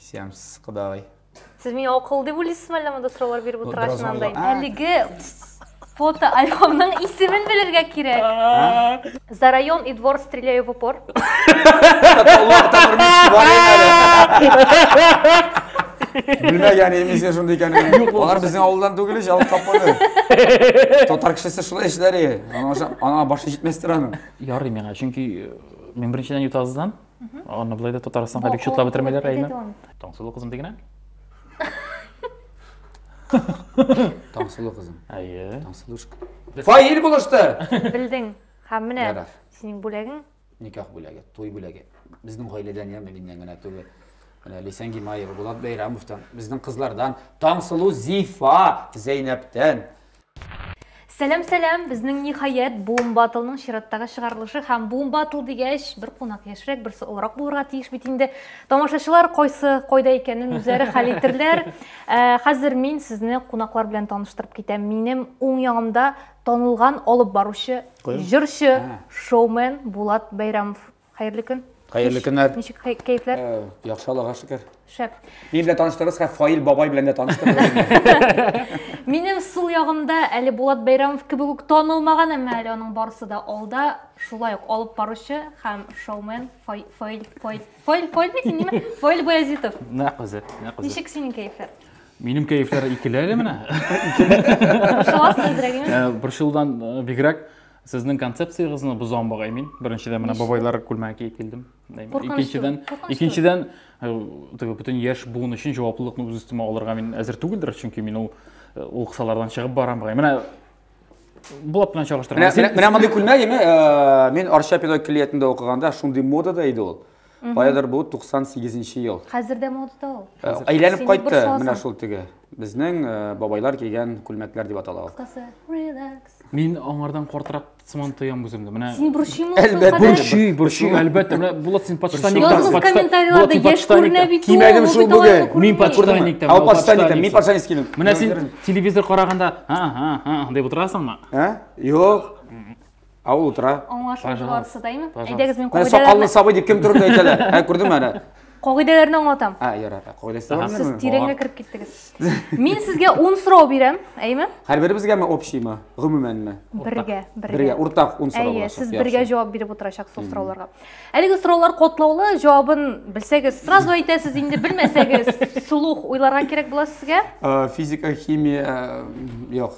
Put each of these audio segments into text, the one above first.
Сиамс кодагый. Сез миңа акыл дип уйлыйсызмы әллә монда сораулар биреп утыргач мынандай? Әлеге фото альбомның исемен белергә кирәк. За район и двор стреляю в упор. Белмәгән инде син шундый икәнен. Алар безнең авылдан түгел, җал капканы. Татар кешесе шулай эшләре. Ана башы җитмәстер аның. Ярый миңа, чөнки мин беренчедән ютазыдан Аны былай да Татарстанга бик чутлап бетермәйләр, әйме? Таңсылу кызым дигенә? Таңсылу кызым. Әйе. Таңсылушка. Фаил булышты. Белдең. Һәм менә синең бүләгең? Никах бүләге, туй бүләге. Безнең гаиләдән я миннән генә түгел. Менә Лисән Гимаева, Булат Бәйрәмовтан, безнең кызлардан, Таңсылу Зифа Зәйнәптән. Сәлам сәлам, безнең ниһаять Boom Battle-ның чираттагы чыгарылышы һәм Boom Battle дигәч, бер кунак яшьрәк, берсе олырак булырга тиеш бит инде. Тамашачылар кайсы кайда икәнен үзләре хәл итерләр. Ә, Хәзер мин сезне кунаклар белән таныштырып китәм. Минем уң ягымда танылган алып баручы, Куян? җырчы, А. шоумен Булат Бәйрәмов. Хәерле көн. Хәерле көннәр. Ничек кәефләр? Э, яхшы Аллага шөкер. Шәп. Мин белән таныштырыгыз, хә Фаил бабай белән дә таныштырыгыз. Минем сул ягымда әле Булат Бәйрамов кебек үк танылмаган, әмма әле аның барысы да алда, шулай ук алып баручы һәм шоумен Фаил Фаил Фаил Фаил Фаил бит инде, Фаил Баязитов. Нәкъ үзе, нәкъ үзе. Ничек синең кәефләр? Минем кәефләр икеле әле менә. Борчыласың әзрәк, Борчылудан бигрәк Сезнең концепциягезне бозам бугай мин. Беренчедән менә бабайлар күлмәге киеп килдем. Икенчедән, икенчедән э, теге бөтен яшь буын өчен җаваплылыкны үз өстемә алырга мин әзер түгелдер, чөнки мин ул э, ул кысалардан чыгып барам бугай. Менә булат белән чагыштырам. Менә менә мондый күлмәк име? Э, мин Арча педагогик клиятендә укыганда шундый модада иде ул. Каядыр бу 98 нче ел. Хәзер дә модада ул. Э, Әйләнеп кайтты менә шул теге. Безнең э, бабайлар кигән күлмәкләр дип атала ул. Кысы, релакс. Мин аңардан картырак сыман тоям үземне. Менә Син борчыймы ул Әлбәттә. кадәр? Борчый, борчый, әлбәттә. Менә Булат син почтаник. Язгыз комментарийларда яшь күренә бит ул. Кимәгем шул бүген. Мин почтаник. Ал почтаник, мин почтаник килдем. Менә син телевизор караганда, ха, ха, ха, дип утырасыңмы? Ә? Юк. Ә ул утыра. Аңлашылды барысы да, әйме? Әйдәгез, мин кагыйдәләрне... Сакаллы сабый дип кем турында әйтәләр? Ә, күрдеңме әле? Кагыйдәләрне аңлатам. Ә, ярар, кагыйдәсе бар. Сез тирәнгә кереп киттегез. Мин сезгә 10 сорау бирәм, әйме? Һәр беребезгәме общиймы, гомумәнме? Бергә, бергә. Бергә, уртак 10 сорау булачак. Әйе, сез бергә җавап биреп утырачак сол сорауларга. Әлеге сораулар котлаулы, җавабын белсәгез, сразу әйтәсез, инде белмәсәгез, сулух уйларга кирәк була сезгә. Физика, химия, юк.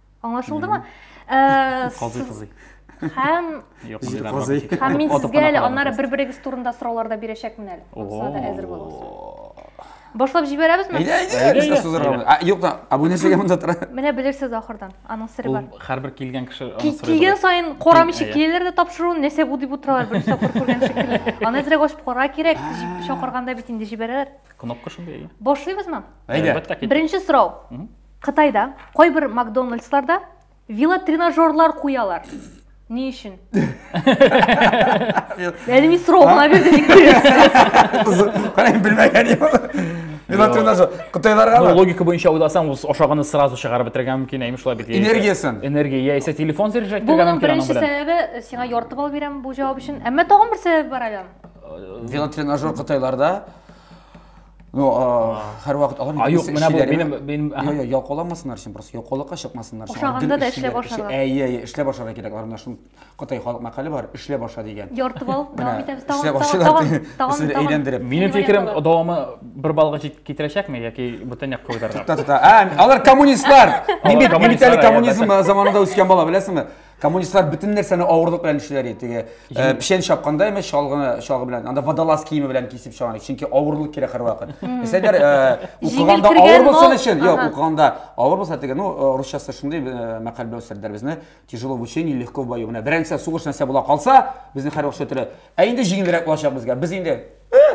Аңлашылдымы? Казый, казый. Һәм Һәм мин сезгә әле аннары бер-берегез турында сораулар да бирәчәкмен әле. Монысына да әзер булыгыз. Башлап җибәрәбезме? Әйдә, әйдә, без дә сузырабыз. А, юк та, абунәчегә монда тора. Менә белерсез ахырдан, аның сыры бар. Һәрбер килгән кеше аның сыры. Килгән саен карамыйча киләләр дә тапшыруын, нәрсә бу дип утыралар, бер сапыр күргән шикелле. Аны әзрәк ачып кара кирәк, чакырганда бит инде җибәрәләр. Кнопка шундый. Башлыйбызмы? Әйдә. Беренче сорау. Кытайда кайбер Макдональдсларда велотренажерлар куялар. Ни өчен? Әле мин сорау гына бирдем. Кара белмәгән идем. Велотренажер. Кытайларга Ну, логика буенча уйласаң, ул ашаганы сразу чыгарып бетергән мөмкин, әйме шулай бит. Энергиясен. Энергия, яисә телефон заряжать Бу итергән минем мөмкин аның беренче белән. сәбәбе, сиңа яртып алып бирәм бу җавап өчен. Әмма тагын бер сәбәп бар әле. Велотренажер Кытайларда Ну, һәрвакыт алар А, юк, менә бу минем минем Йо, йо, ялкауламасыннар өчен, просто ялкаулыкка чыкмасыннар өчен. Ошаганда да эшләп ашарга. Әйе, әйе, эшләп ашарга кирәк. Аларда шул Кытай халык мәкале бар, эшләп аша дигән. Ярты бал, дәвам итәбез. Тагын, тагын, тагын, әйләндереп. Минем фикерем, дәвамы бер балга китерәчәкме яки бөтен якка уйдырырга? Алар коммунистлар. Мин бит коммунизм заманында үскән бала, беләсеңме? Коммунистлар бөтен нәрсәне авырлык белән эшлиләр иде. Теге э, печән чапканда имеш чалгыны чалгы белән, анда водолаз киеме белән кисеп чабалар. Чөнки авырлык кирәк һәрвакыт. Мәсәлән, э, укыганда кергән авыр булсын мал- өчен, юк, Ага. укыганда авыр булса теге, ну, э, русчасы шундый э, мәкаль белән үстерделәр безне. Тяжело в учении, легко в бою. Менә беренче сугыш нәрсә була калса, безне һәрвакыт шөтерә. Ә инде җиңелрәк булачак безгә. Без инде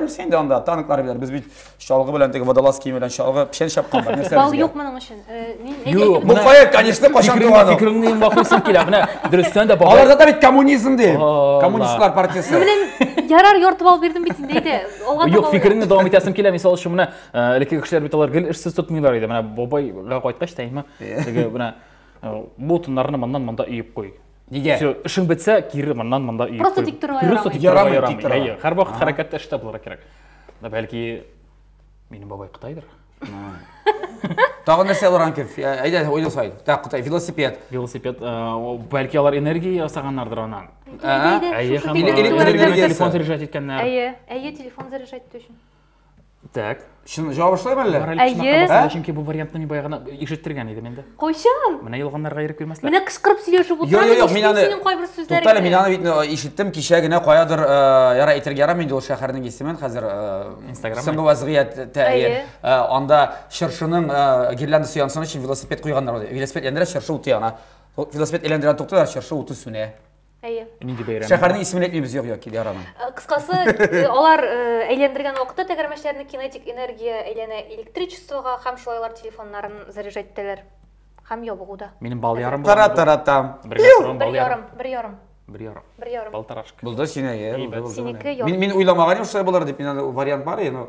Без инде анда танклар белән, без бит чалгы белән теге водолаз киеме белән чалгы печән чапкан бар. Нәрсә Бал безгә? юк моның өчен. Э, Мин Юк, әйтәм, Бу кая, конечно, качан Фикереңне- туган ул? Фикереңне ең бакырсың килә. Менә дөрестән дә бабай. Аларда да бит коммунизм ди. Алла. Коммунистлар партиясе. Ну, беләм, ярар яртып алып бирдем бит инде әйдә. Алга таба Юк, уйла. фикереңне дәвам итәсем килә. Мисал өчен менә э, элекке кешеләр бит алар гел эшсез тотмыйлар иде. Менә бабайга кайткач та имә теге менә э, бу тыннарны моннан монда өеп куй. Нигә? Все, эшең бетсә, кире моннан монда өеп Просто тик торырга Просто тик торырга ярамый. Тик торырга. Һәр вакыт хәрәкәттә эштә булырга кирәк. Да бәлки минем бабай Кытайдыр. Тагы нәрсә алырга кирәк? Әйдә, уйлау сайт. Так, Кытай, велосипед. Велосипед, бәлки алар энергия ясаганнардыр аннан. Әйе, телефон заряжать иткәннәр. Әйе, әйе, телефон заряжать итү өчен. Так. Чын җавап шулаймы әллә? Мораль Әйе. кушмакка басыла, Ә? чөнки бу вариантны мин баягына ишеттергән идем инде. Кайчан? Менә ялганнарга ирек бирмәсләр. Менә кычкырып сөйләшеп Йо, утырам, йо, йо, мин ишетмим аны синең кайбер Туктале, сүзләреңне. мин аны бит ну, ишеттем кичә генә каядыр, э, ярар әйтергә ярамый инде ул шәһәрнең исемен хәзер. э, Инстаграммы? Соңгы вазгыять тә, Әйе. әйе. Э, Анда чыршының э, гирляндасы янсын өчен велосипед куйганнар. ул. Велосипед яндыра, чыршы уты яна. Ул Велосипед әйләндерә тукталар, чыршы уты сүнә. Әйе. Нинди бәйрәм? Шәһәрнең исемен әйтмибез, юк, юк, ярамый. Э, кыскасы, э, алар э, әйләндергән вакытта тәгәрмәчләрне кинетик энергия әйләнә электричествога һәм шулай алар телефоннарын заряжать итәләр. Һәм ябыгуда. Минем бал ярым бар. Тара тара там. Бер ярым, бал ярым. Бер ярым. Бер ярым. Бер ярым. Балтарашка. Булды синеке. Синеке ярым. Мин мин уйламаган идем, шулай булыр дип. Мин вариант бар, но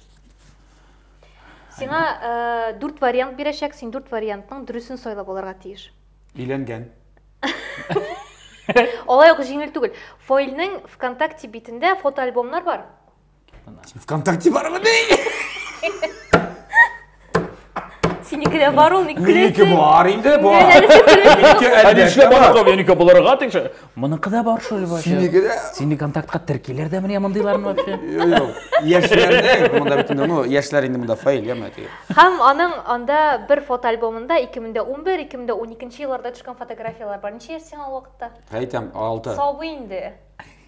Сиңа ә, э, дүрт вариант бирәчәк, син дүрт вариантның дөресен сайлап алырга тиеш. Өйләнгән. Алай ук җиңел түгел. Фойлның ВКонтакте битендә фотоальбомнар бар. ВКонтакте бармы? Синеке дә бар ул, ник Минеке көләсең? бар инде, бар. Мин әле сип көлмим. Минеке Әле әлбәттә эшләп бар. барырга минеке булырга тиңше. Моныкы да бар шул вообще. Синеке дә- Сине контактка теркиләр дә менә мондыйларны вообще. Юк, юк. Яшьләрдә монда бит инде, ну, яшьләр инде монда фаил, яме теге. Һәм аның анда бер фотоальбомында 2011-2012 елларда төшкән фотографияләр бар. Ничә яшь сиңа ул вакытта? Әйтәм, алты. Сабый инде.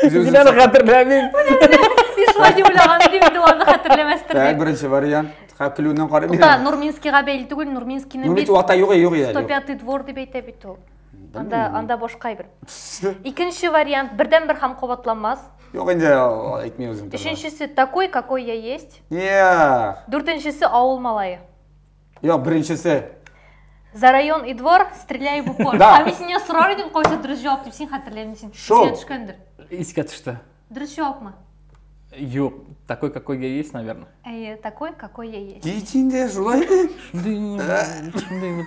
Сез инәне хәтерләмим. Сез шулай дип уйлаган идем, инде аны хәтерләмәстер Так, дип. беренче вариант. Ха, көлүеннән карап Тукта, бирәм. Нурминскийга бәйле түгел, Нурминскийны Ну бит бит ата юк, юк иде. 105 двор дип әйтә бит ул. Анда, анда башка әйбер. Икенче вариант, бердәнбер һәм кабатланмас. Юк инде, а, әйтми үзем. Өченчесе, такой, какой я есть. Йа. Дүртенчесе, авыл малае. Йо, беренчесе. За район и двор стреляй в упор. Да. Ә мин синнән сорар идем, кайсы дөрес җавап дип син хәтерләмисең. син. Шул. Исеңә төшкәндер. Искә төште. Дөрес җавапмы? Юк, такой, какой я есть, наверное. Әйе, такой, какой я есть. Кич инде, шулай ди. Шундый, шундый вот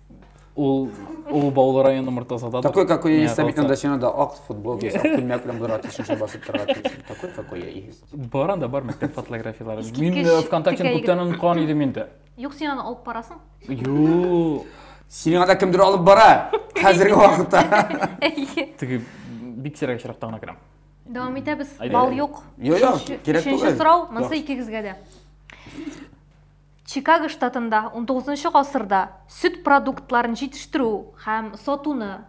Ул ул Баулы районы Мортазада. Такой, какой я есть, сәбит анда сиңа да ак футбол кисе, ак күлмәк белән булырга тиеш, шуңа басып торырга тиеш. Такой, какой я есть. Бар анда бар мәктәп фотографияләре. Мин э, ВКонтактены күптән оныткан идем инде. Юк, син аны алып барасың? Юк. Сине анда кемдер алып бара. Хәзерге вакытта. Теге бик сирәк очракта гына керәм. Дәвам итәбез. Бал юк. Юк, юк, кирәк түгел. Өченче сорау, монсы икегезгә дә. Чикаго штатында унтугызынчы гасырда сөт продуктларын җитештерү һәм сатуны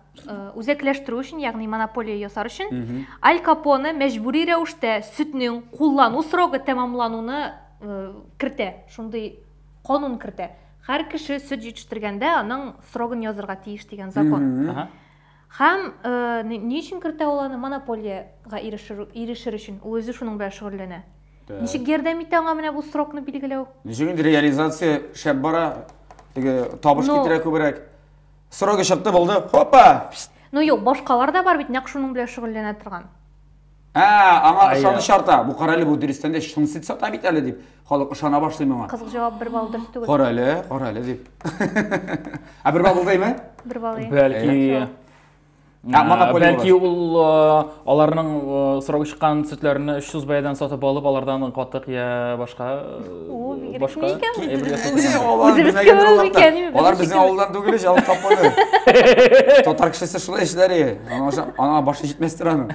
үзәкләштерү өчен, ягъни монополия ясар өчен, Аль Капоне мәҗбүри рәвештә сөтнең куллану срогы тәмамлануны кертә, шундый канун кертә. Һәр кеше сөт җитештергәндә аның срогын язырга тиеш дигән закон. Һәм ни өчен кертә ул аны? Монополиягә ирешер өчен. Ул үзе шуның белән шөгыльләнә. Ничек ярдәм итә аңа менә бу срокны билгеләү? Ничек инде реализация шәп бара, теге табыш китерә күбрәк. Срогы чыкты, булды, хопа! Ну юк, башкалар да бар бит, нәкъ шуның белән шөгыльләнә торган. Ә, аңа Ая. ышаныч арта. Бу карале бу дөрестән дә чын сөт сата бит әле дип. Халык ышана башлый моңа. Кызык җавап бер балл дөрес түгел. Карале, карале дип. Ә бер бабыл дәйме? Бер балл. ия. Бәлки Ә, Ә, монополия бәлки булыр. ул э, аларның э, срогы чыккан сөтләрне 300 бәядән сатып алып, алардан катык я башка э, Ул бигрәк башка ни икән? әйбер Үзебез- ясап- Ни, алар Үзебез безнең кембез аларда. икән, ими, Алар без безнең шикелле. авылдан түгел ич, алып тапмады. Татар кешесе шулай эшләр. е. Аңа ошап- Аңа башы җитмәстер аның.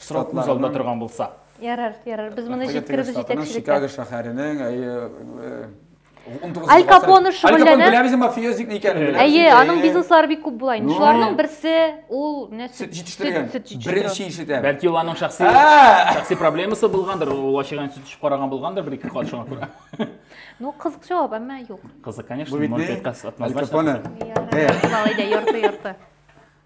Срок күз алдында торган булса. Ярар, ярар. Без моны җиткеребез җитәкчелеккә. Чикаго шәһәренең, әйе, Аль Капоны шөгыльләнә. Аль Капоны бик мафиоз ник икәнен. Әйе, аның бизнеслары бик күп була инде. Шуларның берсе ул менә сөт җитештерү. Беренче ишетә. Бәлки ул аның шәхси шәхси проблемасы булгандыр, ул ачыган сөт эчеп караган булгандыр бер ике кат шуңа күрә. Ну, кызык җавап, әмма юк. Кызык, конечно, монетка сатмазлар. Аль Капоны. Ярый, ярый, ярты, ярты.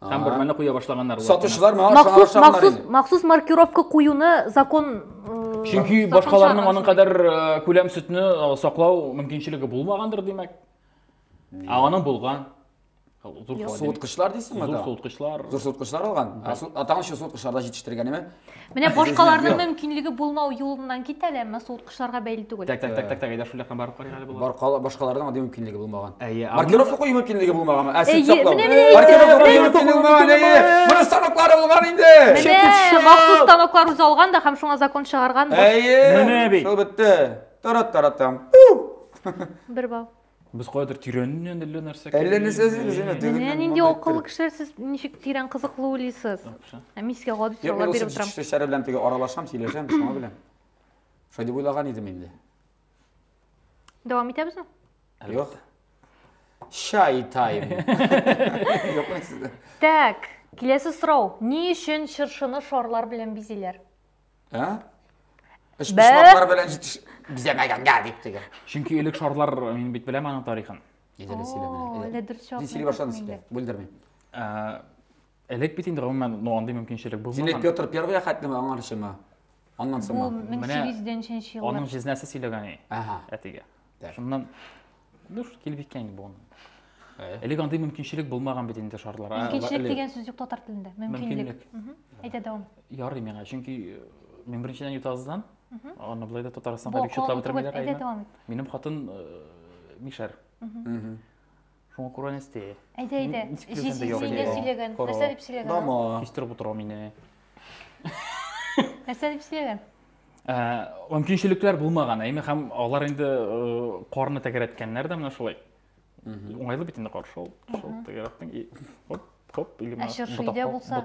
Там бер мәне куя башлаганнар. Сатучылар маңа шуңа шамнар инде. Махсус маркировка куюны закон Чөнки башкаларның аның кадәр күләм сөтне саклау мөмкинчелеге булмагандыр, димәк. Ә аның булган. Суыткычлар дисеңме? Зур суыткычлар. Зур суыткычлар алган. Ә тагын шул суыткычларда җитештергәнеме? Менә башкаларның мөмкинлеге булмау юлыннан кит әле, әмма суыткычларга бәйле түгел. Так, так, так, так, так, әйдә шул якка барып карыйк әле болар. Баркала башкаларның андый мөмкинлеге булмаган. Әйе. Маркировка кою мөмкинлеге булмаган. Ә син саклау. Маркировка кою мөмкинлеге булмаган. Әйе. Моны станоклар булган инде. Менә махсус станоклар үзе алган да һәм шуңа закон чыгарган. Әйе. Менә бит. Шул бетте. Тарат-таратам. Бер бал. Без каядыр тирәннән әллә нәрсә Әллә кердек. нәрсә эзлибез, әйе, теге- Менә нинди монда акыллы кереп. кешеләр сез ничек тирән кызыклы уйлыйсыз. Яхшы. Ә мин сезгә гади Юк, мин сораулар ул биреп сез утырам. чәчләре белән теге аралашам, сөйләшәм, шуңа белән. Шулай дип уйлаган идем инде. Дәвам итәбезме? Юк. Чай тайм. Юк, мин сездә. Так, киләсе сорау. Ни өчен чыршыны шарлар белән бизиләр? Ә? Эш Бә- эшләпләр белән җитеш бизәмәгәнгә дип теге. Чөнки элек шарлар мин бит беләм аның тарихын. Идәле О, әллә дөрес җавап Син сөйли бирдең башладың инде. син. Бүлдермим. Ә, Элек бит инде гомумән ну андый мөмкинчелек Син элек булмаган. Петр Первый хәтлеме аңарчымы? Аннан Бу соңмы? 1800 нче Аның еллар. җизнәсе сөйләгән и, Ага. әтигә. Да. Шуннан ну что килеп җиткән инде бу. Элек андый мөмкинчелек булмаган бит инде шарлар. Мөмкинчелек дигән сүз юк татар телендә. Мөмкинлек. Әйдә дәвам. Ярый миңа, чөнки э, мин беренчедән Ютаздан, аны былай да Татарстанга бик читләп бетермиләр. Әйдә дәвам ит. Минем хатын э, мишәр. Шуңа күрә нәрсә? Әйдә, әйдә. Җиз җиңгә сөйләгән. Нәрсә дип сөйләгән? Дама. Кистереп утырам инде. Нәрсә дип сөйләгән? Ә, мөмкинчелекләр булмаган, әйме һәм алар инде карны тәгәрәткәннәр дә менә шулай. Уңайлы бит инде каршы ул. Шул тәгәрәттең и хоп, хоп, или менә. Ә чыршы булса?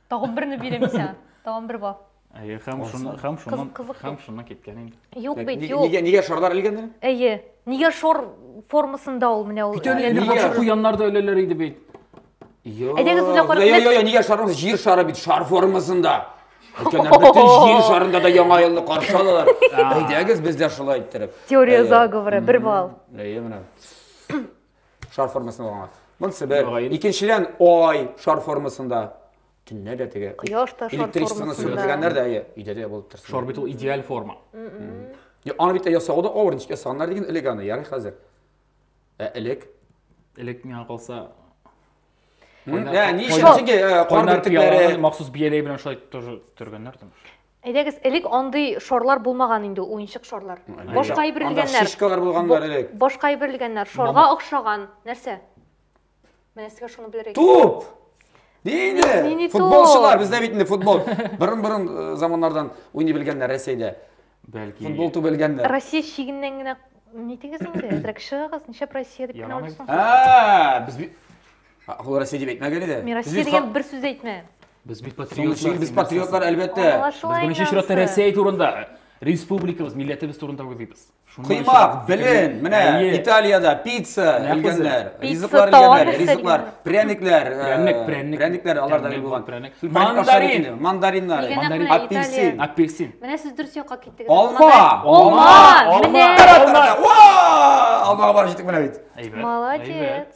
Тагын берне бирәм исән. Тагын бер бар. Әйе, һәм шуны һәм шуны һәм шуны киткән инде. Юк бит, юк. Нигә нигә шарлар элгән әле? Әйе. Нигә шор формасында ул менә ул. Нигә бакча куяннар да өләләр иде бит. Әйдәгез үзләп карап. Йо, йо, йо, нигә шармыз җир шары бит, шар формасында. Өлкәннәр бөтен җир шарында да яңа елны каршы алалар. Әйдәгез без дә шулай иттереп. Теория заговора, бер балл. Әйе, менә. Шар формасында булган. Монысы бер. Мөгаен. Икенчедән, ай шар формасында. Төнлә дә теге. Кояш та шар Электричествоны формасында. сүрелгәннәр дә, әйе, өйдә дә булып торсын. Шар бит ул идеаль форма. Я, Аны бит ясау да авыр, ничек ясаганнар диген элек аны, ярый хәзер. Ә элек? Элек миңа калса М, Кайнар- Ә, ни өчен кайнар- чөнки э, кар кайнар бөртекләре. пыяланы махсус бияләй белән шулай тоже төргәннәр дим. Әйдәгез, элек андый шарлар булмаган инде, уенчык шарлар. Башка әйберлгәннәр. Анда шишкалар булганнар элек. Башка әйберлгәннәр, шарга охшаган. Нәрсә? Менә сезгә шуны белергә Туп! Нинди? Футболчылар, бездә бит инде футбол. Борын-борын э, заманнардан уйный белгәннәр Россиядә. Бәлки. Футбол ту белгәннәр. Россия шигеннән генә нитегез инде, әзрәк чыгыгыз, ничәп Россия дип кенә Ә, без Ул Россия дип әйтмәгән иде. Мин Россия дигән бер сүз әйтмә. Без бит патриотлар. Без патриотлар әлбәттә. Беренче чиратта Россия турында, республикабыз, милләтебез турында уйлыйбыз. Кыймак, белен, менә Италиядә пицца өлгәннәр, ризыклар өлгәннәр, ризыклар, пряникләр, пряник, пряник, пряникләр аларда бил булган. Пряник. Мандарин, мандариннар, мандарин, апельсин, апельсин. Менә сез дөрес якка киттегез. Алма, алма, алма. Алма бар җитек менә бит. Молодец.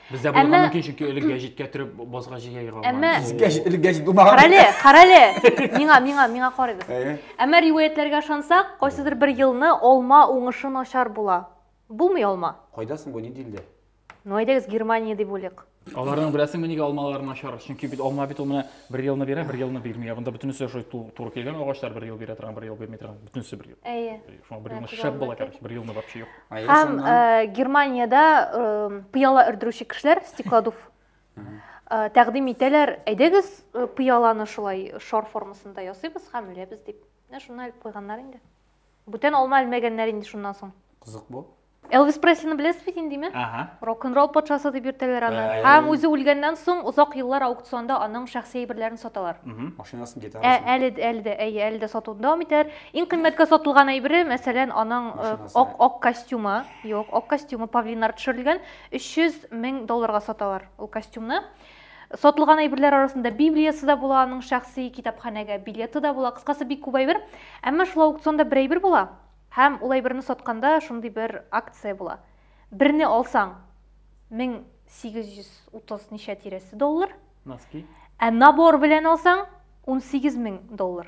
Бездә булган Әмма- мөмкин, чөнки элек гәҗиткә төреп базга җигә егылган. Әмма- Сез гәҗит, элек гәҗит булмаган. Карале, карале. Миңа, миңа, миңа карыйбыз. Әйе. Әмма риваятьләргә ышансак, кайсыдыр бер елны алма уңышы начар була. Булмый алма. Кайда соң бу, ни дилдә? Ну әйдәгез Германия дип уйлыйк. Аларның беләсеңме нигә алмалары начар? Чөнки бит алма бит ул менә бер елны бирә, бер елны бирми. Ә Монда бөтенесе шул ту- туры килгән агачлар бер ел бирә торган, бер ел бирми торган, бөтенесе бер ел. Әйе. Шуңа бер Менә елны күзаллама шәп була, әйтәйк. короче, бер елны вообще юк. Һәм Германиядә пыяла өрдерүче кешеләр, стеклодув, тәкъдим итәләр, әйдәгез пыяланы шулай шар формасында ясыйбыз һәм үләбез дип. Менә шуны әлеп куйганнар инде. Бүтән алма әлмәгәннәр инде шуннан соң. Кызык бу. Элвис Преслини беләсез бит инде, димә? Ага. Рок-н-ролл патшасы дип йөртәләр аны. Һәм үзе үлгәннән соң озак еллар аукционда аның шәхси әйберләрен саталар. Машинасын, гитарасын. Әле дә, әле дә, әйе, әле дә сатуын дәвам итәләр. Иң кыйммәткә сатылган әйбере, мәсәлән, аның э, Машинасы. ак, ак костюмы, юк, ак костюмы павлиннар төшерелгән, 300 мең долларга саталар ул костюмны. Сатылган әйберләр арасында Библиясы да була, аның шәхси китапханәгә билеты да була, кыскасы бик күп әйбер. Әмма шул аукционда бер әйбер була, һәм ул әйберне сатканда шундый бер акция була. Берне алсаң, 1830 ничә тирәсе доллар, Носки. ә набор белән алсаң, 18 мең доллар.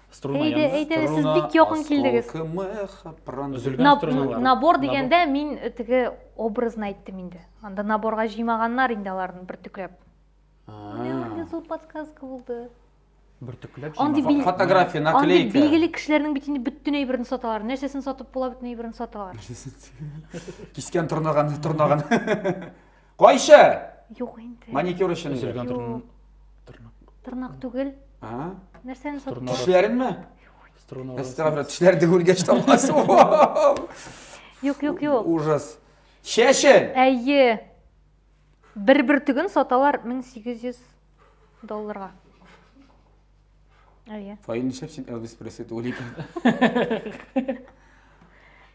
Струна Әйдә, янына. әйдә, сез Струна, бик якын килдегез. осколки меха, пронзили- Өзелгән Наб- струналар. н- Набор дигәндә мин э, теге образны әйттем инде. Анда наборга җыймаганнар инде аларны бөртекләп. Менә А. андый зур подсказка булды. Бөртекләп Андый җыймаган. бил- Фотография, Андый наклейка. билгеле кешеләрнең бит инде бөтен әйберен саталар. Нәрсәсен сатып була, бөтен әйберен саталар. Кискен торнаган, торнаган. Кайчы? Юк инде. Маникюр өчен. Өзелгән тырнак. Тырнак түгел. А? Нәрсәне сатып? Тешләреңме? Струна. Струна. Тешләр дегүлгә чыгасы. Юк, юк, юк. Ужас. Чәчен. Әйе. Бер бөртеген саталар 1800 долларга. Әйе. Фаин нишләп син Элвис Пресли түгел икән?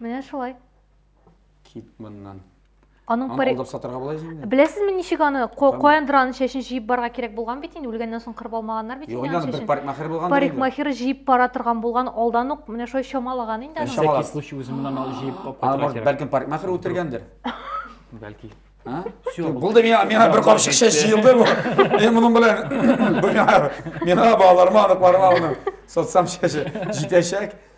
Менә шулай. Кит моннан. Аның Аны алдап сатырга була инде. Беләсезме ничек аны Коэндраның чәчен җыеп барга кирәк булган бит инде, үлгәннән соң кырып алмаганнар бит инде. Юк, бер парикмахер булган. Парикмахер җыеп бара торган булган, алдан ук менә шулай чамалаган инде аны. Чамалаган случай үзе моннан алып җыеп алып кайтырга кирәк. Бәлкем парикмахер үтергәндер. Бәлки. Булды миңа, миңа бер капчык чәч җыелды бу. Мин моның белән бу миңа, миңа балаларыма, аныкларыма аны соцсам чәче җитәчәк.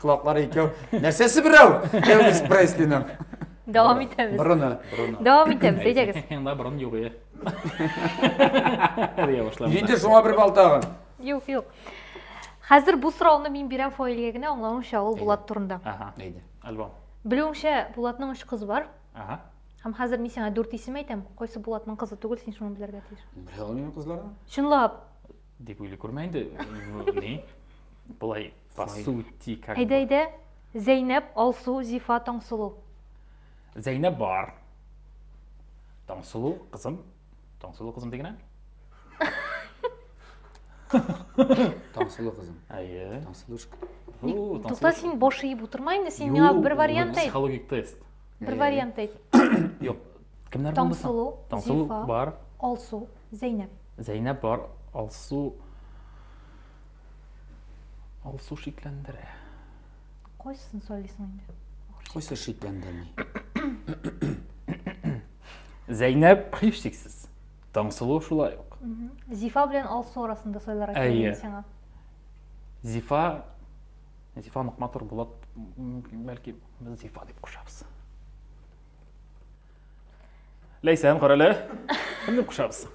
Колаклары икәү. Нәрсәсе берәү? Элвис Преслиның. Дәвам итәбез. Борыны. Борыны. Дәвам итәбез, әйдәгез. Анда борын юк е. Дия башламда. Инде шуңа бер бал тагын. Юк, юк. Хәзер бу сорауны мин бирәм Фаилгә генә, аңлавымча ул Булат турында. Ага. Әйдә. Альбом. Белүемчә, Булатның өч кызы бар. Ага. Һәм хәзер мин сиңа дүрт исем әйтәм. Кайсы Булатның кызы түгел, син шуны белергә тиеш. Белә алмыйм кызларны. Чынлап. Дип уйлый күрмә инде. Ни? Болай по сути как Әйдә, әйдә. Зәйнәп, Алсу, Зифа, Таңсылу. Зәйнәп бар. Таңсылу кызым. Таңсылу кызым дигән. Таңсылу кызым. Әйе. Таңсылушка. Тукта син баш иеп утырма инде, син миңа бер вариант әйт. Психологик тест. Бер вариант әйт. Юк. Кемнәр булды? Таңсылу, Зифа, бар. Алсу. Зәйнәп. Зәйнәп бар, Алсу... Алсу шикләндерә. Кайсысын сайлыйсың инде? Кайсы шикләндерми? Зәйнәп һичшиксез. Таңсылу шулай ук. Зифа белән Алсу арасында сайларга кирәк сиңа. Зифа Зифа нык матур булып, бәлки без Зифа дип кушабыз. Ләйсән, кара әле. Кемне кушабыз?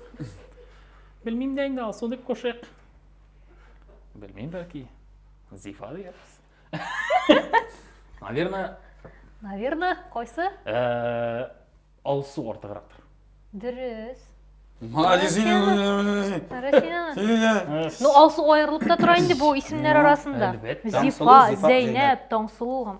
Белмим дә инде, Алсу дип кушыйк. Белмим, бәлки. Зифа диярбез. Наверное, Наверное, кайсы? э, Алсу артыграктыр. Дөрес. Молодец. Россиянең. Э, Ну, Алсу аерылып та тора инде бу исемнәр Ну, арасында. әлбәттә. Зифа, Таңсылу, Зифа, Зәйнәп, Таңсылу һәм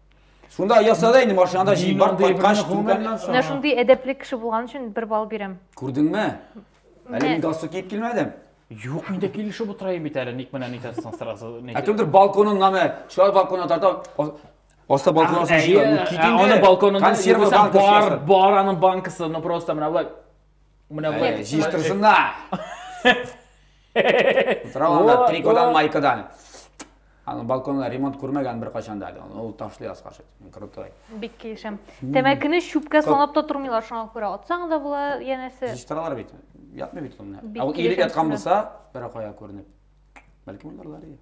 Шунда яса да инде машинада җыеп барып кайткач түкәннән соң. Менә шундый әдәпле кеше булган өчен бер балл бирәм. Күрдеңме? Әле мин галстук киеп килмәдем. Юк, инде килешеп утырайым бит әле, ник менә нитәсен сразу. Ә кемдер балконын нәме, шулай балконга тарта, Оста балконын җыя, аны балконын консерва банкасы. Бар, бар аның банкасы, ну просто менә мына былай жиыстырсын да Тора анда трикодан майкадан аны балконда ремонт күрмәгән бер кайчан да әле ул ташлый аска крутой бик килешәм тәмәкене чүпкә санап та тормыйлар шуңа күрә атсаң да була янәсе җыштыралар бит ятмый бит ул менә ә ул иелеп яткан булса беракая күренеп бәлки монда лария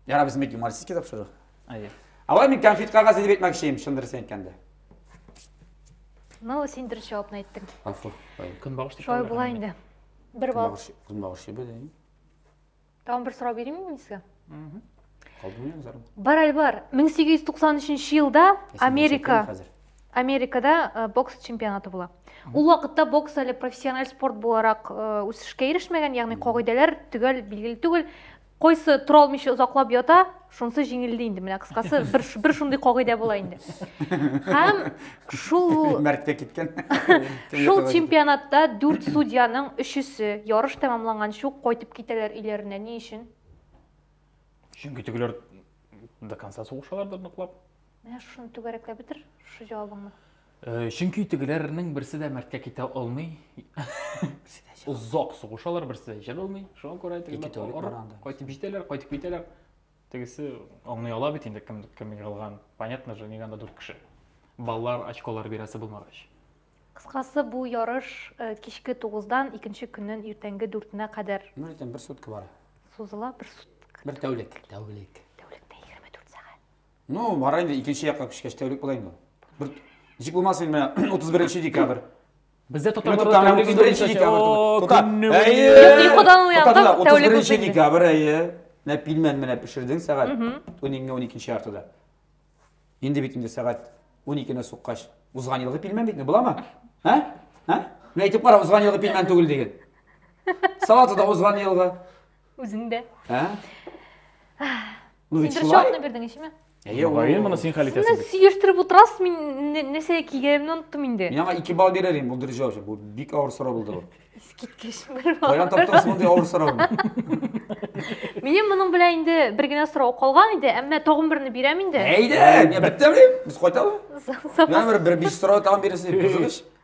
яра безнең бит юмористический тапшыру әйе алай мин конфет кагазы дип әйтмәкче идем чын дөресен әйткәндә ну син дөрес җавапны әйттең афу көнбагыш дип шулай була инде бер балл көнбагыш җебе дә тагын бер сорау бирейме мин сезгә бар әле бар 1893 елда америка америкада э, бокс чемпионаты була ул вакытта бокс әле профессиональ спорт буларак э, үсешкә ирешмәгән ягъни кагыйдәләр төгәл билгеле түгел Кайсы тора алмыйча озаклап ята, шунысы җиңелде инде. Менә кыскасы бер бер шундый кагыйдә була инде. Һәм шул мәрткә киткән. Шул чемпионатта 4 судьяның өчесе ярыш тәмамланганчы ук кайтып китәләр өйләренә. Ни өчен? Чөнки тегеләр до конца сугышалар да ныклап. Менә шуны түгәрәкләп бетер, шушы җавабыңны. Э, чөнки тегеләрнең берсе дә мәрткә китә алмый. Берсе дә чыга. Озак сугышалар, берсе дә чыга алмый. Шуңа күрә Ике тегеләр тәүлек арып, бара анда. кайтып җитәләр, кайтып китәләр. Тегесе аңлый ала бит инде кем кем егылган. Понятно же, нигә анда дүрт кеше. Балалар очколар бирәсе булмагач. Кыскасы, бу ярыш э, кичке тугыздан икенче көннең иртәнге дүртенә кадәр Ну, җитен бер сутка бара. сузыла. Бер сутка. Бер тәүлек. Тәүлек. Тәүлектә 24 сәгать. Ну, бара инде икенче якка күчкәч тәүлек була инде. Бер ничек булмасын инде менә 31 декабрь. Бездә татарларда тәүлек инде 31 декабрь. Тота. Әйе. Йокыдан уянды, тәүлек 31 декабрь, әйе. Менә пилмән менә пешердең сәгать 12-12 яртыда. Инде бит инде сәгать 12-нә суккач, узган елгы пилмән бит, буламы? Ә? Ә? Менә әйтеп кара, узган елгы пилмән түгел диген. Салаты да узган елгы. Үзең дә. Ә? Ну ведь шулай. Шулай бирдең ишеме? Мөгаен моны син хәл итәсең. Сез сөештиреп утырасыз, мин нәрсә кигәнемне оныттым инде. Мин аңа 2 балл бирер идем, бу дөрҗә өчен. Бу бик авыр сорау булды бу. Искиткеч бер балл. Каян таптыңыз мондый авыр сорауны? Минем моның белән инде бер генә сорау калган иде, әмма тагын берне бирәм инде. Әйдә, мин беттем, без кайтабыз. Мин бер бер биш сорау тагын бирәсез, кызыгыз.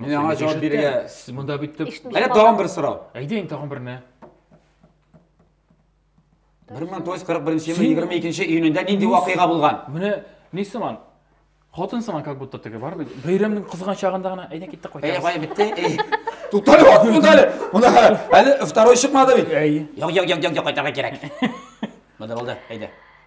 Мин аңа җавап бирергә сез монда бит дип. Әнә тагын бер сорау. Әйдә инде тагын берне. 1941 елның 22 июнендә нинди вакыйга булган? Менә ни сыман? Хатын сыман как будто теге бар бит. Бәйрәмнең кызган чагында гына әйдә киттек кайтабыз. Әйдә кая бетте? Туктале вак булды әле. Монда әле второй чыкмады бит. Әй. Як як як як кайтарга кирәк. Монда булды. Әйдә.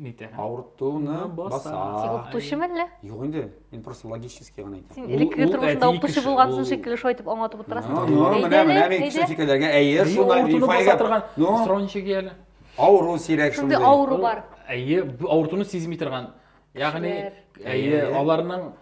Нитә? Авыртуны баса. Син укытучы мәллә? Юк инде. Мин просто логически гына әйтәм. Син элеккеге тормышында укытучы булгансың шикелле шулай итеп аңлатып утырасың. Ну, менә менә мин кеше фикерләргә әйе, шулай авыртуны баса торган. Ну, срончы гел. Авыру сирәк шундый. Шундый авыру бар. Әйе, авыртуны сизми торган. Ягъни, әйе, аларның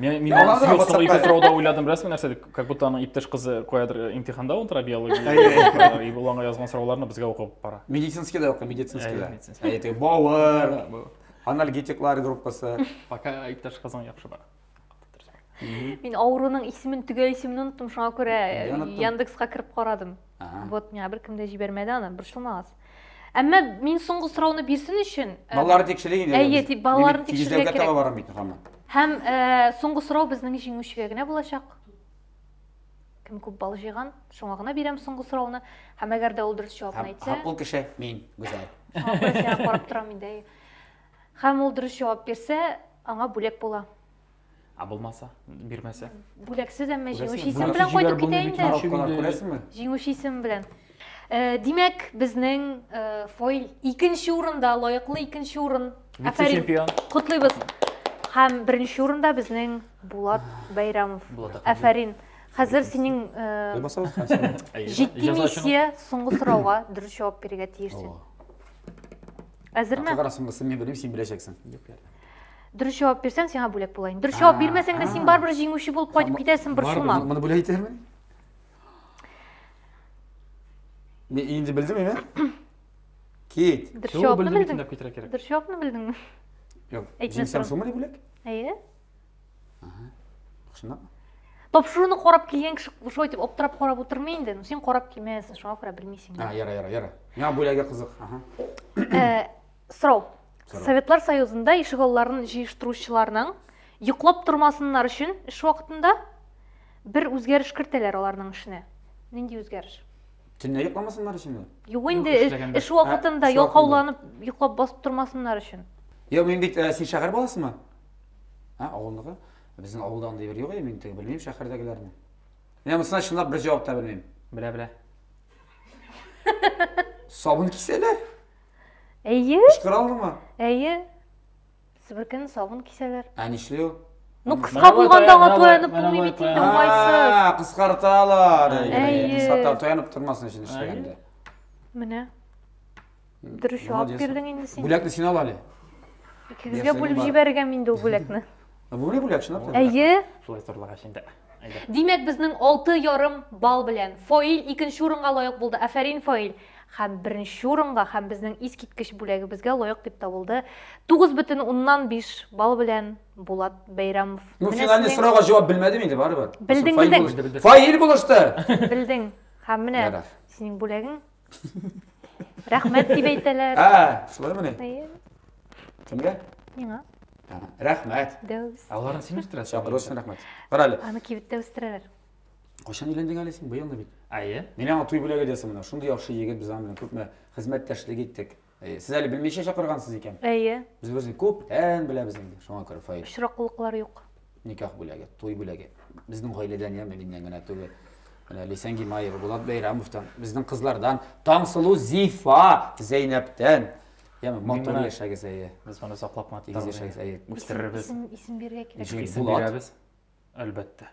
Мен мин аны сыйк соң ике сорауда уйладым беләсеңме нәрсә дип как будто аның иптәш кызы каядыр э, имтиханда утыра биология и ул аңа язган сорауларны безгә укып бара медицинский да укый медицинский да әйте бавыр анальгетиклар группасы пока иптәш кызың яхшы бара мин авыруның исемен төгәл исемен оныттым шуңа күрә яндекска кереп карадым Вот миңа беркем дә җибәрмәде аны, борчылмагыз. Әмма мин соңгы сорауны бирсен өчен, э, Балалар тикшерик инде. Әйе, тик балаларны тикшерергә кирәк. Тигезләүгә барам бит хамы. Һәм э, соңгы сорау безнең җиңүчегә генә булачак. Кем күп балл җыйган, шуңа гына бирәм соңгы сорауны. Һәм әгәр дә ул дөрес җавапны әйтсә, ул кеше мин, Гүзәл. Шуңа карап торам инде. Һәм ул дөрес җавап бирсә, аңа бүләк була. Ә булмаса, бирмәсә? Бүләксез, әмма җиңүче исем Бүләксез белән кайтып китә инде. Күрәсеңме? Коронавирус күрәсеңме? Җиңүче исем белән. Э, Димәк, безнең э, фойл икенче урында, лаеклы икенче урын. Афәрин. Вице-чемпион. Котлыйбыз. Һәм беренче урында безнең Булат Бәйрәмов. Булат Әхмәдиев. Афәрин. Хәзер синең э, Булмасагыз, хәзер. Әйе, җитди җәза өчен миссия соңгы сорауга дөрес җавап бирергә тиешсең. Әзерме? Кара соңгысын мин белмим, син беләчәксең. Юк, ярдәм. дөрес җавап бирсәң сиңа бүләк була инде дөрес җавап бирмәсәң дә син барыбер җиңүче булып кайтып китәсең бер сума моны бүләк итәрмен мен инде белдем мен кит дөрес җавапны белдең дөрес җавапны белдеңме жоқ җиңсәң сума не бүләк әйе шындап тапшыруны карап килгән кеше шулай итеп аптырап карап отырмый инде син карап килмәгәнсең шуңа күрә белмисең а яра яра яра миңа бүләге кызык Сорау. Советлар Союзында ишегалларын җыештыручыларның йоклап тормасыннар өчен эш вакытында бер үзгәреш кертәләр аларның эшенә. Нинди үзгәреш? Төнлә йокламасыннар өченме? Юк инде, эш вакытында ә, ялкауланып, йоклап басып тормасыннар өчен. Йо, мин бит ә, син шәһәр баласымы? Ә, авылныкы? Безнең авылда андый бер юк, мин теге белмим шәһәрдәгеләрне. Мин монысына чынлап бер җавап та белмим. Белә, белә. Сабын кисәләр. Әйе. Кычкыра алырмы? Әйе. Себеркене сабын кисәләр. Ә нишли ул? Ну, кыска булганда аңа таянып булмый бит инде, уңайсыз. Кыскарталар. Кыскарталар таянып тормасын өчен эшләгәндә. Менә. Дөрес җавап бирдең инде син. Бүләкне син ал әле. Икегезгә бүлеп җибәргәм инде ул бүләкне. Бүре бүләк чынлап та. Әйе. Шулай зурлагач инде. Әйдә. Димәк, безнең алты ярым балл белән Фаил икенче урынга лаек булды. Афәрин, Фаил! Һәм беренче урынга һәм безнең искиткеч бүләгебезгә лаек дип табылды 9,5 балл белән Булат Бәйрәмов. Ну, Менә финальный сезнең- сорауга җавап белмәдем инде, барыбер. Белдең, Фаил белдең. булышты. Фаил булышты! Белдең. Һәм менә Ярар. синең бүләгең. Рәхмәт дип әйтәләр. А, шулай менә. Әйе. Кемгә? Миңа. Рәхмәт. Дәүс. Аларны син үстерәсең. Чакыру өчен рәхмәт. Кара әле. Аны кибеттә үстерәләр. Кайчан өйләндең әле син? Быелмы бит? Әйе. Мин аңа туй бүләге диясем менә. Шундый яхшы егет без аның белән күпме хезмәттәшлек иттек. Әйе, сез әле белмичә чакыргансыз икән. Әйе. Без берсен күптән беләбез инде, шуңа күрә Фаил. Очраклыклар юк. Никах бүләге, туй бүләге. Безнең гаиләдән яме миннән генә түгел. Менә Лисән Гимаева, Булат Бәйрәмовтан, безнең кызлардан, Таңсылу Зифа, Зәйнәптән. Яме матур яшәгез, әйе. Без моны саклап матур. Тигез яшәгез, әйе. Үстерербез. Исем, исем бирергә кирәк. Булат. Исем бирәбез. Әлбәттә.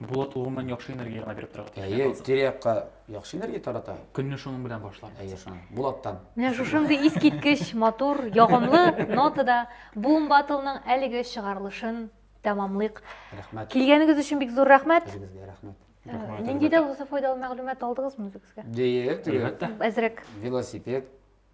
Булат ул гомумән яхшы энергия гына биреп тора. Әйе, тирә-якка яхшы энергия тарата. Көнне шуның белән башлар. Әйе, шуның. Булаттан. Менә шушындый искиткеч, матур, ягымлы нотада Boom Battle-ның әлеге чыгарылышын тәмамлыйк. Рәхмәт. Килгәнегез өчен бик зур рәхмәт. Үзегезгә рәхмәт. Э, нинди дә булса файдалы мәгълүмат алдыгызмы үзегезгә? Дие, Әзрәк. Велосипед